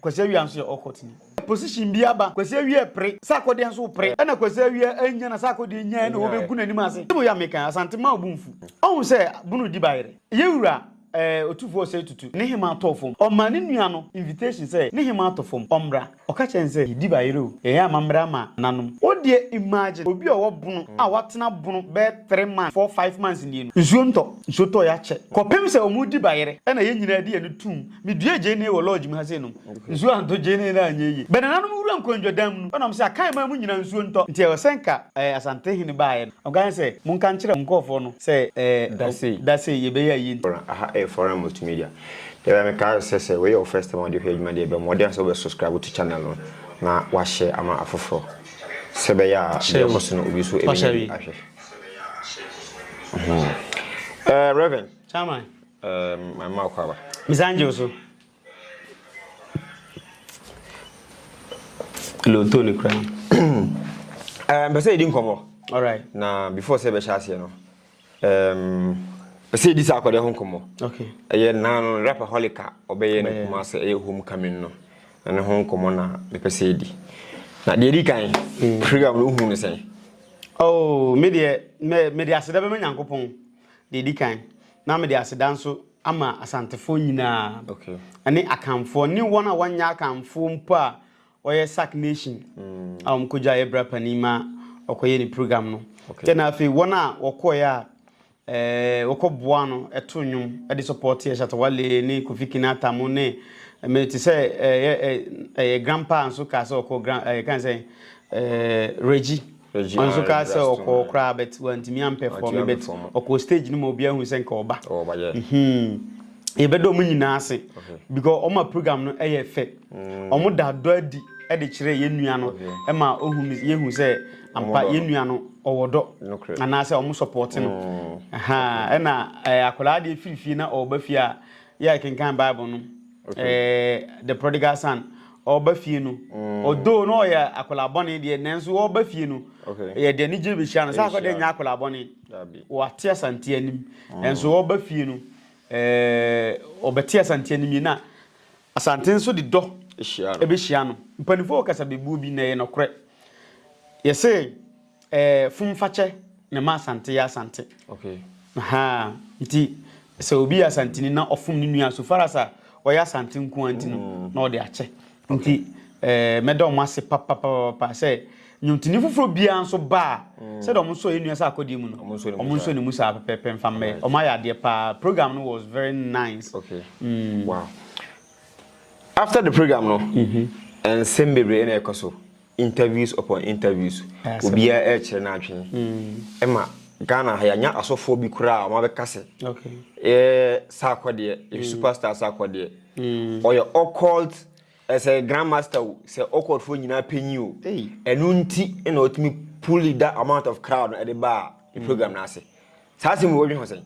Kwasi Awia nso yɛ all court ni. Position bi aba, Kwasi Awia pere, sɛ akɔdeɛ nso wopere, ɛna Kwasi Awia annya na sɛ akɔdeɛ nyaeɛ na wɔbɛgu n'anim ase. Sɛdeɛ yɛ a meka yi, Asante mma wo bo mfu. Ɔhu sɛ bunu di ba yere. Yɛwura eh, Otufoɔ Osei Tutu, ne hemaa tɔɔ fam. Ɔmaa ne nua no invitation sɛ ne hemaa tɔ fam, ɔmmra. Ɔka kyerɛɛ no sɛ, Yɛdi ba yere o, yɛyɛ amammerɛ ama nananom. Wo deɛ imagine obi a ɔwɔ bunu a watena bunu bɛyɛ three months, four, five months nie no, nsuo ntɔ. Nsuo tɔ yɛ akyɛ. Kɔpem sɛ wɔredi ba yere, ɛna yɛn nyinaa de yɛn ani toom. Meduee gyeene wɔ lɔɔgye mu ha sei nom nsuo antɔ gyeene no anyɛ yie. Bɛ nananom wura nkɔndwadam mu no ɔnam sɛ akan mmaa mu nyinaa nsuo ntɔ nti ɛwɔ sɛ nka ɛɛ Asante hene baeɛ no ɔnka yɛn sɛ monka nkyerɛ mo nkɔɔfoɔ no sɛ ɛɛ da sei da sei yɛbɛyɛ ayie nti Forum, aha ɛyɛ Forum Multimedia. Deɛ ɛbɛyɛ meka sɛ sɛ wei yɛ wo first time a wode hwɛ adwuma deɛ bɔ mmɔden sɛ wobɛ subscribe to channel no na wa share ama afoforɔ sɛ ɛbɛyɛ a deɛ ɛkɔ so no obi nso ɛbɛnya bi ahwɛ. Rev. Chairman. Ehm my mouth aba. Me san gye wo so. Lonto ne kura. Ehm mpɛ sɛ yɛdi nkɔmmɔ. Alright. Na before sɛ yɛbɛhyɛ aseɛ no. Ehm pɛ sɛ yɛdi saa akɔdɛ ho nkɔmmɔ. Okay. Ɛyɛ naa no rapaholic a ɔbɛyɛ no kuma sɛ ɛyɛ homecoming no. Na ne ho nkɔmmɔ na mepɛ sɛ yɛdi. Na deɛ ɛdi kan program no wohu no sɛn? Oh me deɛ me me de aseda bɛma Nyankopɔn. Deɛ ɛdi kan, na mede aseda nso ama Asantefoɔ nyinaa, ne Akanfoɔ, ne wɔn a wɔnyɛ Akanfoɔ mpo a wɔyɛ Sac Nation a wɔkɔgyaeɛ bra panin ma ɔkɔyɛ ne program no. Kyɛ na afei wɔn a wɔkɔeɛ a eh, wɔkɔboa no ɛto nnwom de sɔpɔɔteɛ Shatawale ne Kofi Kinata mo ne me te sɛ ɛyɛ eh, eh, eh, grandpa nso kaa sɛ ɔkɔ grand ɛyɛ eh, kan sɛ eh, Reggie Ɔno nso kaa sɛ ɔkɔɔ koraa but wantumi ampɛfɔɔme but ɔkɔɔ stage no ma obiara hu sɛ nka ɔba. Yɛbɛda wɔn nyinaa ase because wɔn ma program no yɛ fɛ. Wɔn da dɔ adi de kyerɛ yɛn nua no ma ohu yɛhu sɛ ampa yɛn nua no ɔwɔ dɔ anaasɛ wɔn support no. Ɛna akwadaa deɛ firi fie na ɔba fie a yɛ kenkan Bible no. ɛɛ the prodigal son ɔba fie no ɔdoo mm. na ɔyɛ akwadaa bɔne deɛ nanso ɔba fie no yɛ deɛ ne gyina bɛhyia no sɛ akɔ deɛ nyɛ akwadaa bɔne wɔate asante anim mm. nanso ɔba fie no ɛɛ ɔbɛte asante anim yi na asante nso de dɔ ɛbɛhyia no mpanimfoɔ wɔ kasabebuo bi na ɛyɛ nɔkorɛ yɛsɛ Eh, Fumfakyɛ na ɛma Asante yɛ Asante. Okay. Ahaa, nti sɛ obi yɛ Asanteni na ɔfom ne nua so far as a ɔyɛ Asante nko ara nti no, mm. na ɔde akyɛ. Nti eh, mɛda wɔn ase papapapa sɛ nnwontoni foforɔ biara nso ba a mm. sɛdeɛ wɔn nso yɛ nua sɛ akɔdeɛ mu no wɔn nso ne mu saa pɛpɛpɛ nfa mmɛ wɔn ayɛ adeɛ paa program no was very nice. Okay. Mm. Wow. After the program no, mm-hmm. nsɛm bebree na ɛkɔ so. interviews upon interviews obia ɛkyerɛ no adwene ɛma Ghana ha yɛanya asɔfoɔ bi koraa a wɔabɛka sɛ yɛ saakɔ deɛ yɛ superstar saakɔ deɛ ɔyɛ occult ɛsɛ grand master o sɛ occult foɔ nyinaa panyin o ɛno nti na ɔtumi pull that amount of crowd no ɛde baa ne program no ase saa asɛm wɔ dwe ho sɛn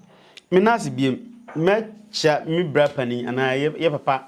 me nase biem mɛkyia me bra panin anaa yɛ papa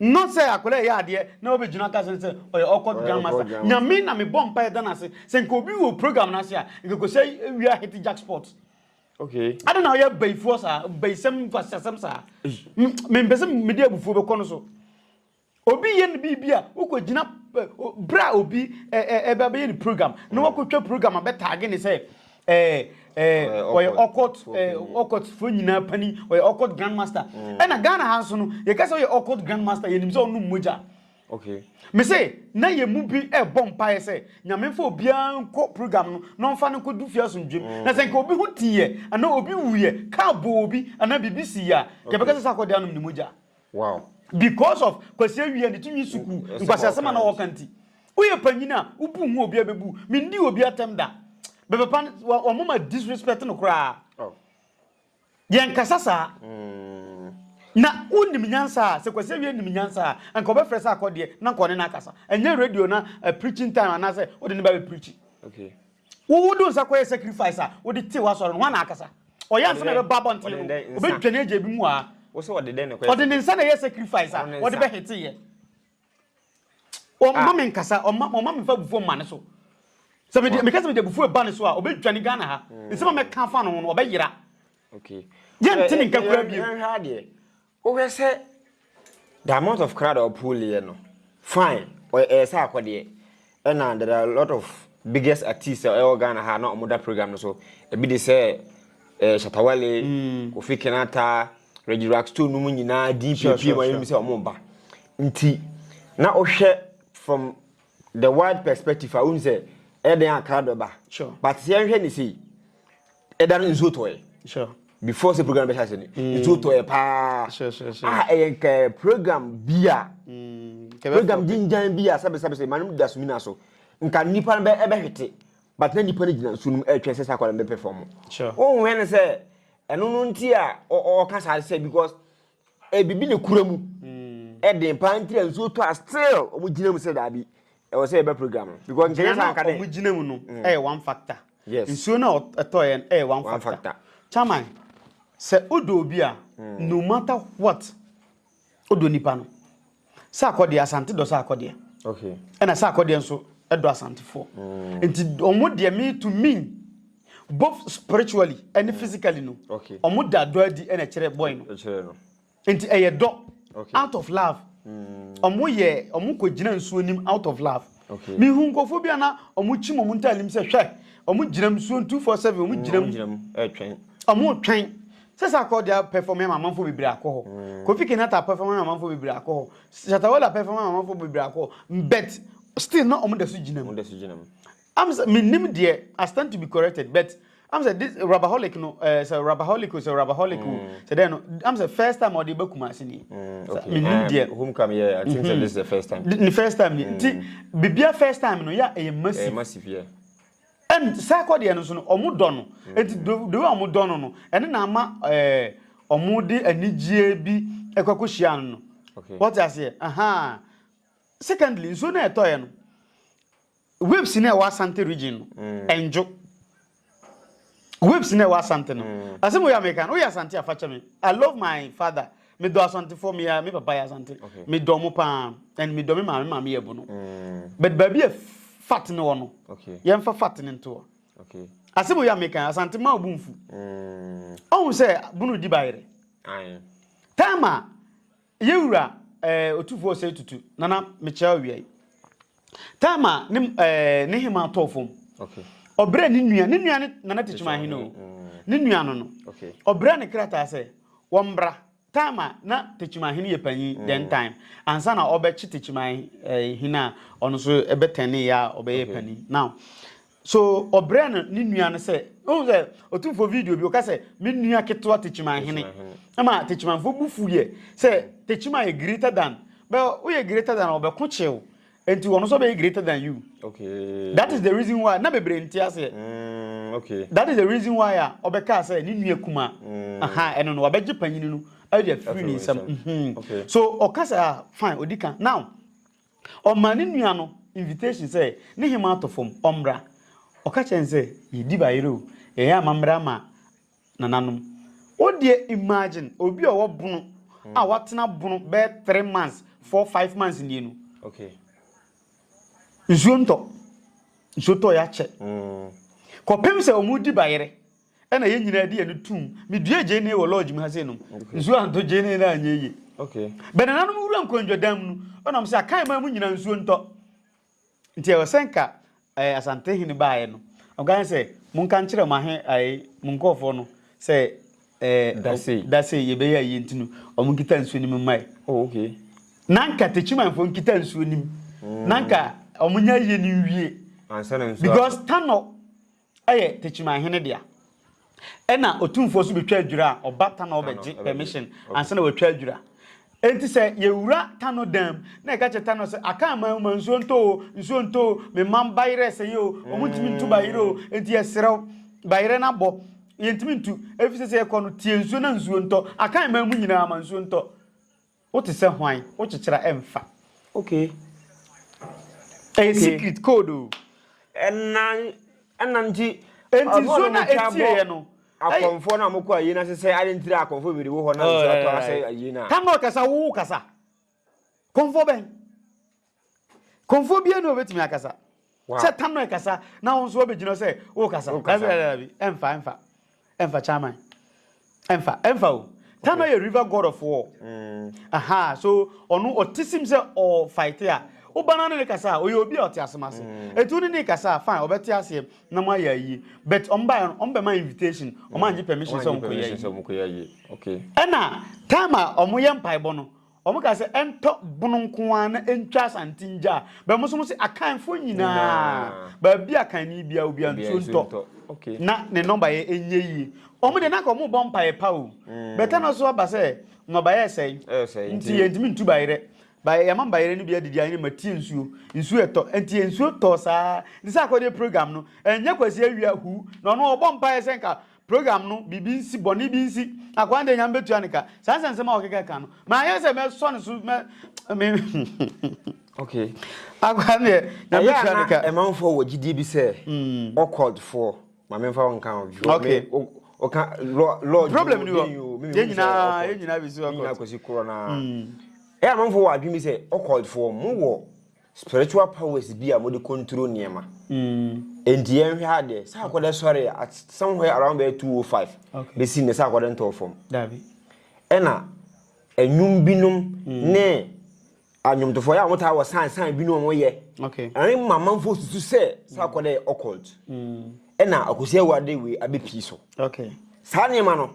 Not sɛ akwadaa ɛyɛ adeɛ na wobɛgyina aka sɛ sɛ ɔyɛ awkward jam master. Nyame na mebɔ mpaeɛ da no ase sɛ nka obi wɔ program no ase a nka kɔsɛ wia hit jackpot. Okay. Ade na ɔyɛ bayifoɔ saa bayisɛm mfasiasɛm saa. Mempɛ sɛ mede abufuo bɛkɔ no so. Obi yɛ no biribi a wokɔgyina berɛ a obi ɛbɛyɛ ne program na wakɔtwa program a bɛtaage ne sɛ ɛɛ ɛɛ ɔyɛ ɔkɔt ɛɛ ɔkɔt fo nyinaa pani ɔyɛ ɔkɔt grand master mm. ɛna ghana ha nso no yɛka sɛ ɔyɛ ɔkɔt grand master yɛnim sɛ ɔnom mogya okay me se na yɛ mu bi ɛbɔ mpaeɛ sɛ nyame mfa obiara nkɔ program no na ɔmfa no nkɔdu fie asomdwam mm. na sɛ nka obi ho tiiɛ anaa obi wuyɛ kaa bɔ obi anaa biribi siiɛ a yɛbɛka sɛ sɛ akɔde anom ne mogya Wow. Because of Kwasi Awia ne tinwi sukuu Wo- ɛsɛ nkwaseasɛm a na wɔka nti. Woyɛ panyin a, wo bu ho a obiara bebu. Mendii obi atɛm da. Bɛbɛpa no, wɔ- wɔn ma disrespect no koraa. Oh. Yɛnkasa saa. Na wonim nyansa a, sɛ Kwasi Awia nim nyansa a, anka ɔbɛfrɛ sɛ akɔdeɛ na anka ɔne no akasa. Ɛnyɛ radio na eh, preaching time anaasɛ wode ne ba bɛpreachi. Okay. Wo wo de wo nsa kɔyɛ sacrifice a wode tew asɔre no ho ana akasa? Ɔyɛ ansa na ɛbɛbɔ abɔnten no obedwane agya ebi mu aa. Wo sɛ ɔde dɛn na ɛkɔyɛ? Ɔde ne nsa na ɛyɛ sacrifice a wɔde bɛ hete yɛ. Ɔmma me nkasa ɔmma ɔmma me fa abufuo mma ne so. Sɛ me de me kasa me de abufuo ɛba ne so a obedwane Ghana ha. Nsɛm a mɛka fa no ho no ɔbɛyera. Okay. Yɛn te ne nka kura bi. Hwɛ hwɛ adeɛ. Wohwɛ sɛ the amount of crowd a ɔpool yɛ no fine ɔyɛ ɛyɛ sɛ akɔdeɛ ɛna there are a lot of biggest artists a ɛwɔ Ghana ha na wɔn da program no so ebi de sɛ ɛɛ Shatawale mm. Kofi Kenata Reggie Rockstone no mu nyinaa di pie pie ma yɛn sɛ wɔn ba nti na wohwɛ from the wide perspective a wohun sɛ ɛyɛ den a crowd bɛba sure. but sɛ yɛhwɛ ne sei ɛda no nsuo tɔɛ before sɛ program bɛhyɛ ase no mm. nsuo tɔɛ paa a ɛyɛ nkɛ program bi a mm. program gyingyan bi a sɛbɛsɛbɛ sɛ manom da sumi no so nka nnipa no ɛbɛhwete but na nnipa no gyina nsuo no mu ɛtwɛn sɛ sɛ akwadaa no bɛpɛfɔm wohwɛ no sɛ ɛno no nti a ɔka saa sɛ because Ebibi ne kura mu ɛden paa ntira nsuo tɔ a still wɔn gyina mu sɛ daabi ɛwɔ sɛ yɛbɛ program no because nkɛyɛ sɛ anka dɛ wɔn gyina mu no mm. ɛyɛ one factor yes nsuo na ɛtɔ yɛn ɛyɛ one factor, factor. chairman sɛ odɔ obi a mm. no matter what odɔ nipa no Saakɔ deɛ Asante dɔ Saakɔ deɛ. Okay. Ɛna Saakɔ deɛ nso ɛdɔ Asantefoɔ. Mm. Nti ɔmo deɛ me to me both spiritually ɛne mm. physically no. Okay. Ɔmo da dɔ adi ɛna ɛkyerɛ boy no. Ɛkyerɛ no. Nti ɛyɛ dɔ. Okay. Out of love. Mm. Ɔmo yɛ ɔmo kɔ gyina nsuo nim out of love. Mehuu nkurɔfoɔ bi a na wɔkyim wɔn ntadeɛ mu sɛ, hwɛ, wɔgyinam nsuo no 247, wɔgyinam, wɔretwɛn sɛ saa akɔɔ deɛ apɛfɔm ama amanfoɔ bebree akɔ hɔ. Kofi Kenyatta apɛfɔm ama amanfoɔ bebree akɔ hɔ. Shatta Wale apɛfɔm ama amanfoɔ bebree akɔ hɔ. But still na wɔda so gyinam. Am sɛ mennim deɛ, I stand to be corrected, but am sɛ this rabaholic no ɛɛ eh, sɛ rabaholic o sɛ rabaholic o mm. sɛ dɛn no am sɛ first time ɔde ba kuma ase ni mi nim deɛ home come yɛ i think sɛ mm-hmm. this is the first time ne first time ni nti mm. bibia first time no yɛ ɛyɛ massive ɛyɛ massive yɛ ɛn saa kɔ deɛ no so no ɔmo dɔ no mm. eti the way ɔmo dɔ no no ɛne na ama ɛɛ eh, ɔmo de anigyeɛ bi ɛkɔ kɔ hyia no no wɔte aseɛ ahan secondly nsuo na ɛtɔ yɛ no. Waves no a ɛwɔ Asante region no, ɛndwo. Waves no a ɛwɔ Asante no. Asɛm wei a meka no, woyɛ Asante a, fa kyɛ me. I love my father. Medɔ Asantefoɔ, me, me papa yɛ Asante. Medɔ mo paa, and medɔ me maame, maame yɛ abu no. But baabi a fat no wɔ no, yɛmfa fat no nto hɔ. Okay. asɛm oyi a meka asante ma obu mfu ɔhu sɛ bunu di bayerɛ time a Yɛ wura eh, Otufoɔ Osei Tutu, Nana mekyea owia yi. Time a ne eh, ne hema tɔɔ fam. Okay. Ɔbrɛ ne nua, ne nua ne Nana Tikyima Ahene o. Mm. Ne nua no no. Okay. Ɔbrɛ ne krataa sɛ, wɔmbra. Time a na Tikyima Ahene yɛ panyin, mm. then time. Ansa na ɔbɛkye Tikyima Ahene eh, a, ɔno nso ɛbɛtɛne yɛ a ɔbɛyɛ okay. panyin. Now, So ɔbrɛ no ne nua no sɛ wohu sɛ ɔtumfoɔ video bi ɔka sɛ me nua ketewa tekyima hene ɛma tekyimanfoɔ bu fu yɛ sɛ tekyima yɛ greater than bɛ woyɛ greater than ɔbɛko kyew nti wɔn nso bɛyɛ greater than you okay that is the reason why na bebree nti aseɛ mm, okay that is the reason why a ɔbɛka sɛ ne nua kuma mm. aha ɛno no wabɛgye panyini no ɛde afiri ne nsam so ɔka sɛ ah, fine ɔdi kan now Ɔmaa ne nua no invitation sɛ ne hemmaa atɔ fam, ɔmmra. Ɔka kyerɛɛ no sɛ, Yɛdi bayerɛ o, yɛyɛ amammerɛ ama nananom. Wo deɛ imagine obi a ɔwɔ bono a watena bono bɛyɛ three months, four, five months nie no. Okay. Nsuo ntɔ. Nsuo tɔ yɛ akyɛ. Mm. Kɔpem sɛ wɔn di bayerɛ. Ɛna yɛn nyinaa de yɛn no tum. Meduee gyeene wɔ lodge mu ha sɛ nom. Nsuo antɔ gyeene no anyɛ yie. Bɛnananom wura nkɔndwadan mu no, ɔnam sɛ akan man mu nyinaa nsuo ntɔ. Nti ɛwɔ sɛ nka ɛɛ Asante hene baeɛ no. Ɔka sɛ monka nkyerɛ mo ahe ɛɛ mo nkɔɔfoɔ no sɛ ɛɛ dase dase yɛbɛyɛ ayie nti no wɔn nkita nsuo nim mmae. Oh, okay. Na nka techimanfoɔ nkita nsuo nim. Mm. Na nka wɔn nyɛ ayie no nwie. Ansa na nsuo. Because tanɔ Ɛyɛ Techimanhene dea. Ɛna Otumfoɔ nso betwa adwira a, ɔba Tano bɛgye permission ansa na watwa adwira. Enti sɛ yɛwura Tano dan mu na yɛka kyerɛ Tano sɛ, Aka aman mu ma nsuo ntɔ o, nsuo ntɔ o, me mma bayerɛ sɛeɛ o, wɔntumi ntu bayerɛ o, enti yɛsrɛ wo, bayerɛ no abɔ, yɛntumi ntu, efisɛ sɛ yɛkɔ no, tie nsuo na nsuo ntɔ. Aka aman mu nyinaa ma nsuo ntɔ. Wo te sɛ hwan? Wo kyekyera ɛmfa. Okay. Ɛyɛ secret code o. Ɛnan ɛnan nti. Ɛnti nsuo no a ɛtie yɛ no. Akɔmfoɔ no a wɔkɔ ayie no ase sɛ ade ntira akɔmfoɔ bebree wɔ hɔ na nsuo atɔ asɛ ayie no a. Tam na ɔkasa wo kasa. Kɔmfoɔ bɛn? Kɔmfoɔ biara ni a ɔbɛtumi akasa. Sɛ Tamere kasa na wo nso wabɛgyina hɔ sɛ wokasa. Dabi dabi dabi ɛmfa ɛmfa ɛmfa Chairman ɛmfa ɛmfa o. Tamere yɛ river god of war. Mm. Aha so ɔno ɔte sim sɛ ɔfight a woba no ne ne kasa a ɔyɛ obi a ɔte asem ase. Mm. Etu ne ne kasa a fine ɔbɛte aseɛ na mo ayɛ ayie but ɔmo baeɛ no ɔmo bɛma invitation ɔmo mm. angye permission sɛ ɔmo kɔyɛ ayie. Okay. Ɛna time a ɔmo yɛ mpaebɔ no Wɔn ka sɛ ɛntɔ bono nko ara na ɛntwa asante ngya a, bɛ mo so mo se akanfoɔ nyinaa baabi a kanni biara obiara nsuo ntɔ na ne nnɔba yɛ ɛnyɛ yie. Wɔn deɛ na anka wɔn bɔ mpaeɛ pa o. Bɛta no so aba sɛ nnɔba yɛ ɛsɛe nti yɛn ntumi ntu bayerɛ. Bayɛ yɛn ma bayerɛ no bi adidi ayene ma tie nsuo. Nsuo ɛtɔ nti yɛn nsuo tɔɔ saa. Nti sɛ akɔdeɛ program no ɛnyɛ kwasi awia hu na ɔno ɔbɔ mpaeɛ sɛ nka program no biribi nsi, bɔne bi nsi, akwan deɛ nyame bɛtua ne ka. Saa nsɛnsɛm a wɔkeka ka no, ma anyɛ sɛ mɛsɔ ne so mɛ me okay akwan deɛ nyame bɛtua ne ka. ɛmanfoɔ wɔ gyidie bi sɛ ɔkɔdfoɔ hmm. ma memfa wo nka wo okay ɔka lord problem ni hɔ yɛn nyinaa yɛn nyinaa bɛsi ɔkɔd yɛn nyinaa kɔsi korɔ naa ɛyɛ amanfoɔ wɔ adwene bi sɛ ɔkɔdfoɔ mo wɔ Spiritual powers bi a wɔde control nneɛma. Enti yɛnhwɛ ha deɛ, sɛ akɔdɛ sɔre at somewhere around bɛyɛ 205 Okay. bɛsi nnɛ sɛ akɔdɛ ntɔɔ fam. Dabi. Ɛna nnwom binom ne anwomtofoɔ yɛ a wɔtaa wɔ sign sign binom a wɔyɛ. Okay. Ɛrema amanfoɔ susu sɛ sɛ akɔdɛ yɛ occult. Ɛna Akosi Awuade wei abɛpii so. Okay. Saa nneɛma no,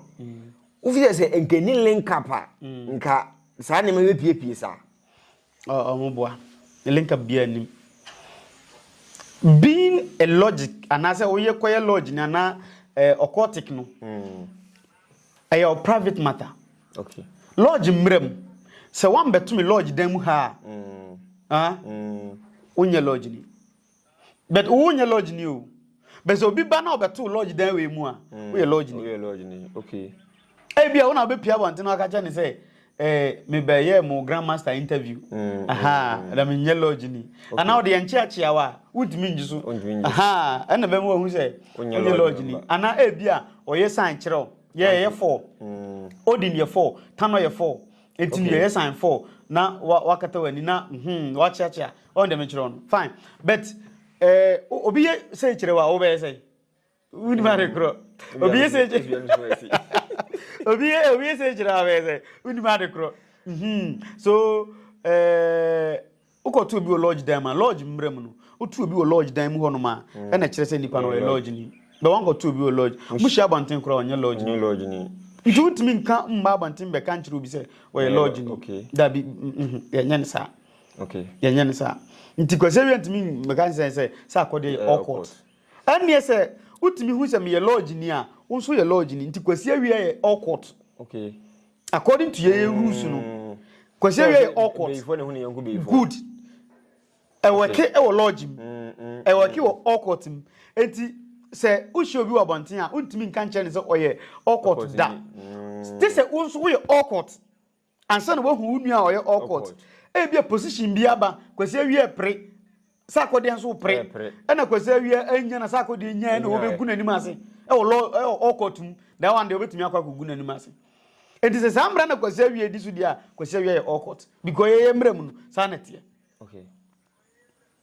wofi sɛ sɛ nka ɛnni link up a, nka saa nneɛma yi bɛpiepie saa. Oh oh mo boa ne link up biara nim. Being a logic anaasɛ woyɛ kɔyɛ lodge ni anaa eh, occultic no hmm. ɛyɛ mm. o private matter. Okay. Lodge mmerɛ mu sɛ woambɛto me lodge dan mu ha a mm. ah, mm. wonyɛ lodge ni. But wo nyɛ lodge ni o. Bɛsɛ obi ba na ɔbɛto lodge dan wei mu a, hmm. woyɛ lodge ni. Woyɛ lodge ni. Okay. Ebi a wo na wobɛpia abɔnten na waka kyɛ ne sɛ eh, mebɛyɛ mo grandmaster interview mm, aha mm, mm. na menyɛ lodge ni okay. anaa ɔde yɛnkyeakyea wo a wontumi ngye so aha ɛna bɛma wahu sɛ wonyɛ lodge ni anaa ebi a ɔyɛ sign kyerɛ wo yɛyɛ yɛ four mm. odin yɛ four tano yɛ four eti okay. yɛyɛ sign four na wakata w'ani na hmm, wakyeakyea Ɔn dɛ me kyerɛ no fine but eh, obi yɛ sɛ kyerɛ wa wo bɛyɛ sɛ wudi ma de korɔ obi yɛ sɛ kyerɛ obi yɛ obi yɛ sɛ kyerɛ wa bɛyɛ sɛ wudi ma de korɔ hmm so eh wokɔ tu obi wɔ lodge dan mu a lodge mmerɛ mu no wotu obi wɔ lodge dan mu hɔ nom a mm. ɛna kyerɛ sɛ nipa no ɔyɛ lodge ni bɛ wɔn kɔ tu obi wɔ lodge mo hyɛ abɔnten koraa ɔnyɛ lodge ni nti wontumi nka mma abɔnten bɛka nkyerɛ obi sɛ ɔyɛ lodge ni dabi yɛnyɛ ne saa Okay. Yɛnyɛ ne saa. Nti kwasi awia ntumi mmeka nsɛn sɛ sɛ akɔde yɛ all court. Ɛnneɛ sɛ wotumi hu sɛ meyɛ lodge ni a wo nso yɛ lodge ni nti kwasi awia yɛ all court. Okay. According to yɛn mm. rules no kwasi awia yɛ all court. Beyifoɔ na ehu ne yɛn ko beyifoɔ. Good. Ɛwɔke ɛwɔ lodge mu. Mm, mm, Ɛwɔke wɔ all court mu. Eti sɛ wohyɛ obi wɔ abɔnten a wontumi nka nkyɛn ne sɛ ɔyɛ all court da. Te sɛ wo nso woyɛ all court. Ansa na woahu wo nua a ɔyɛ awkward. Ebia position bi aba, Kwasi Awia pere, sɛ akɔdeɛ nso wopere, ɛna Kwasi Awia annya na sɛ akɔdeɛ nyaeɛ na wɔbɛgu n'anim ase ɛwɔ lɔ ɛwɔ awkward mu, that one deɛ wobɛtumi akɔ akɔgu n'anim ase. Enti sɛ saa mmara na Kwasi Awia di so deɛ a, Kwasi Awia yɛ awkward because yɛyɛ mmara mu no, saa na ɛteɛ. Okay.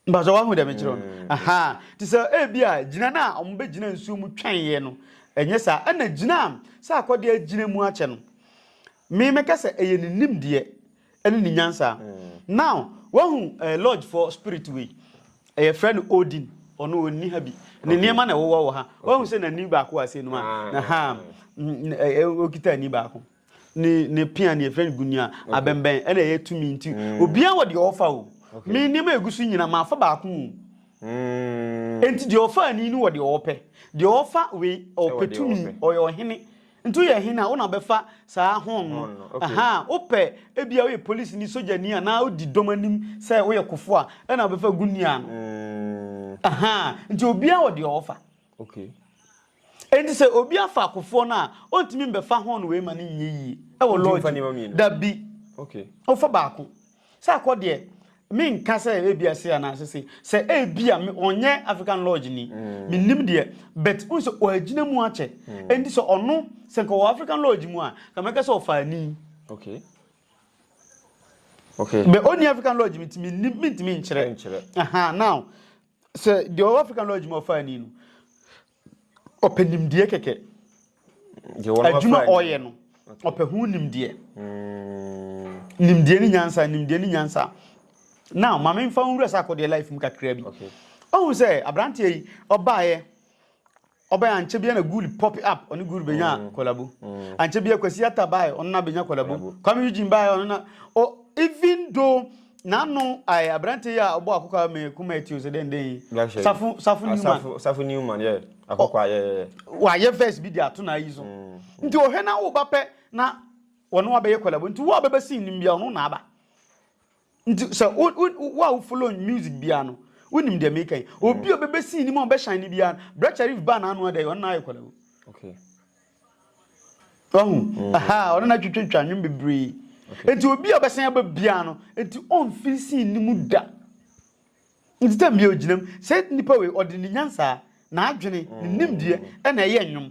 Mpatsɔ wahu dɛ mekyerɛw no? Aha, ntsi sɛ ebi a gyina no a wɔbɛgyina nsuo mu twɛn'eɛ no, ɛnyɛ saa, ɛna gyina a sɛ akɔdeɛ agyina mu akyɛ no, me mɛka sɛ ɛyɛ ne nimdeɛ ɛne ne nyansaa. Now, wahu eh, lodge foɔ spirit wei, ɛyɛ frɛ no Odin, ɔno ɔnni ha bi, ne nneɛma na ɛwowɔ wɔ ha, wahu sɛ n'ani baako a asɛe nom a, aha, ɔkita ani baako. ne ne pea ne yɛfrɛ no gunia abɛnbɛn ɛna ɛyɛ tumi nti mm. obiara wɔ deɛ ɔfa o me nneɛma egu so nyina maafa baako o mm. nti deɛ ɔfa ani no wɔ deɛ ɔpɛ deɛ ɔfa wei ɔpɛ tumi ɔyɛ ɔhene nti woyɛ hene a wona bɛfa saa hon no aha wopɛ ebia woyɛ polisi ni sogyani a na wodi dɔm anim sɛ woyɛ kofo a ɛna wobɛfa gunia no mm. aha nti obiara wɔ deɛ ɔfa okay Enti sɛ obi afa akofoɔ no a, ɔntumi mbɛfa horn wei ma no nyɛ yie wɔ Wontumi mfa lɔɔgye nneɛma mu? mmienu. Dabi. Okay. Wofa baako. Sɛ akɔ deɛ, menka sɛ ebia sei anaa sɛ sei. Sɛ ebia me, ɔnyɛ African lodge ni, mennim deɛ, but wohu sɛ wagyina mu akyɛ. Enti sɛ ɔno, sɛ nka ɔwɔ African lodge mu a, nka mɛka sɛ ɔfa ani. Okay. Okay. But ɔnni African lodge mu nti mennim, mentumi nkyerɛ. Ɛnkyerɛ. Aha, now, sɛ deɛ ɔwɔ african lodge mu ɔfa ani no ɔpɛ nimdeɛ kɛkɛ adwuma ɔyɛ no ɔpɛ ho nimdeɛ hmm. nimdeɛ ne nyansa nimdeɛ ne nyansa now maame nfa nwura sɛ akɔdeɛ life mu kakra bi ɔhu sɛ aberanteɛ yi ɔbaeɛ Ɔbae ankyɛ biara na Gully popped up, ɔne Gully benyaa collabo. Ankyɛ biara Kwasi Arthur bae, ɔno na benya collabo. Kwame Eugene bae, ɔno na o even though n'ano ae aberante yi a ɔbɔ akokwa me kuma ati ose dɛn dɛn yi, Safo Safo Newman. Safo Newman yeah, akokwa yeah yeah yeah. Wayɛ verse bi de ato n'ayi so. Nti ɔhwɛ na wo ba pɛ na wɔne wo abɛyɛ collabo, nti wo a ɔbɛba scene no mu biara ɔno na aba. Nti sɛ wo wo wo a wo follow music biara no, wonim deɛ meka yi. Obi a ɔbɛbɛsi anim a ɔbɛhyɛn ne biara no, Brɛ Charif baa n'ano adɛ, ɔno na ayɛ kwala o. Okay. Wahu? Aha, ɔno na twitwitwa nnwom bebree. Nti obi a ɔbɛsan aba biara no, nti ɔmfiri si anim da. Nti tam biara ogyinam sɛ nipa wei ɔde ne nyansa, n'adwene, ne nimdeɛ na ɛyɛ nnwom.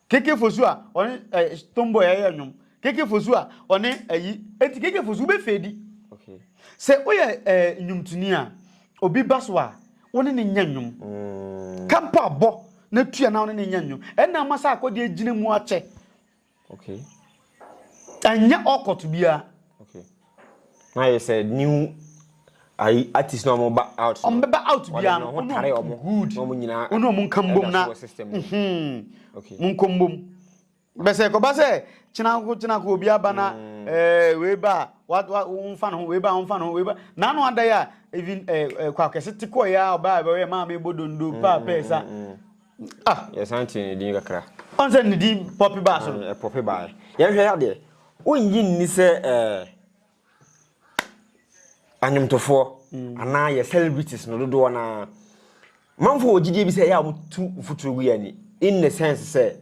Keke fosu a ɔne ɛɛ tomboy a ɛyɛ nnwom. Keke fosu a ɔne ayi. Eti keke fosu wobɛ fedi. Okay. Sɛ woyɛ ɛɛ nnwomtoni a obi ba so a wo ne ne nyɛ nnwom. Mm. Ka mpo abɔ na tua na wo ne ne nyɛ nnwom. Ɛna ama saa akɔde agyina mu akyɛ. Okay. Ɛnyɛ ɔkɔto biara. Okay. Na ayɛ sɛ new ayi artist na wɔn ba out. Wɔn bɛba out biara no wɔn tare wɔn good na wɔn nyinaa wɔn a wɔn nka mbom na mhm wɔn nkɔ mbom bɛsɛ kɔba sɛ kyenako kyenako obi aba na ɛɛ mm. wei ba wa wa wɔn fa ne ho wei ba wɔn fa ne ho wei ba n'ano ada yɛ a even ɛɛ ɛɛ kɔ akɛse te kɔ yɛ a ɔbaa ɛbɛyɛ maame bɔ dondo mm, paa pɛɛ sa. Mm, Ah, yɛsan tee ne din kakra. Ɔn sɛ ne din pɔpe baa so no. Ah, ɛpɔpe baa. Yɛnhwɛ yɛ adeɛ. Wonnye nni sɛ ɛɛ anwomtofoɔ mm. anaa yɛ celebrities no dodoɔ no ara manfo wɔ gyidie bi sɛ ɛyɛ a wɔtu mfuturo gu yɛ ani in the sense sɛ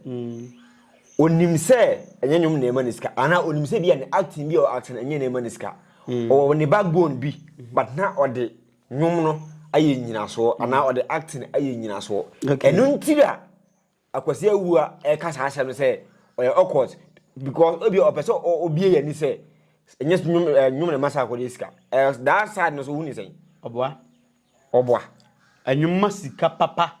onim mm. sɛ ɛnyɛ nnwom na ɛma ne sika anaa onim sɛ bi a ne acting bi a acting ɛnyɛ na ɛma ne sika mm. ɔwɔ ne backbone bi but na ɔde nnwom no ayɛ nnyinasoɔ mm. anaa ɔde acting ayɛ nnyinasoɔ ɛno nti na akwasi awua ɛka saa asɛm no sɛ ɔyɛ awkward because ebi ɔpɛ sɛ obie yɛ ni sɛ ɛnyɛ nnwom ɛɛ nnwom na ɛma saa akɔde sika ɛɛ that side no so wuni sɛn. ɔboa. ɔboa. ɛnwom ma sika papa.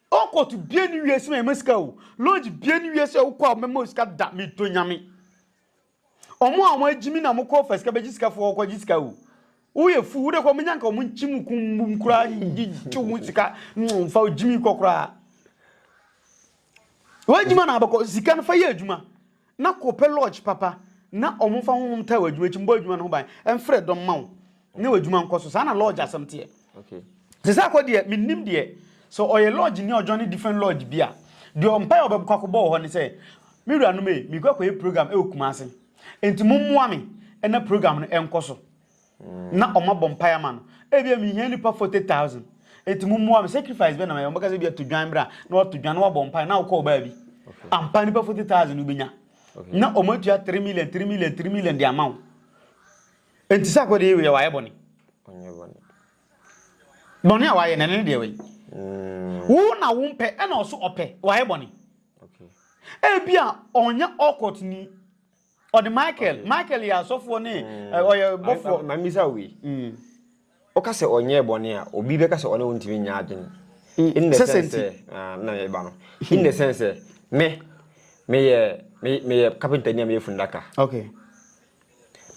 Ɔkɔt bie ni wiase ma yɛma sika o. Lodge bie ni wiase a wokɔ a wɔbɛma wo sika da meto nyame. Ɔmo a ɔmo agyimi na ɔmo kɔ ɔfa sika bɛgye sika fo ɔkɔ gye sika o. Woyɛ fu wode kɔ ɔmo nyanka ɔmo nkyim kumbum koraa gyigye wo sika mfa ogyimi kɔ koraa. W'adwuma na abɛkɔ sika no fa yɛ adwuma. Na kɔpɛ lɔɔgye papa na wɔmfa honhom taa w'adwuma akyi, mmɔ adwuma no ho ban, mfrɛ dɔm mma wo ne w'adwuma nkɔ so. Saa na lɔɔgye asɛm teɛ. Sese akɔ deɛ, mennim deɛ, sɛ ɔyɛ lɔɔgyeni a ɔjoine different lɔɔgye bi a, deɛ mpaeɛ a ɔbɛkɔ akɔbɔ wɔ hɔ ne sɛ, Me wuranom ei, merekɔ akɔyɛ program wɔ Kumasi, enti mommoa me na program no nkɔ so. na ɔmo abɔ mpae ama no ebia mihia nnipa forty thousand eti mo mmoa me sacrifice bɛ na mɛ ɔmo kasa ebia to dwan bra na wato dwan na wabɔ mpae na ɔkɔ ɔbaa bi ampa nnipa forty thousand no benya na ɔmo atua three million three million three million de ama wo eti sɛ akɔde yɛ wayɛ bɔne bɔne a wayɛ na ɛne deɛ wei mm. wo na wo mpɛ ɛna ɔso ɔpɛ wayɛ bɔne ebia ɔnyɛ ɔkɔt ni Ɔde Michael, Michael yɛ asɔfoɔ ne ɔyɛ bɔfoɔ. Ma mi sa wei. Ɔka sɛ ɔnyɛ bɔne a, obi bɛka sɛ ɔne wo ntumi nyɛ adwene. In the sense sɛ, na yɛ ba no. In the sense sɛ, me, meyɛ, meyɛ carpenter ni a meyɛ fundaka. Okay.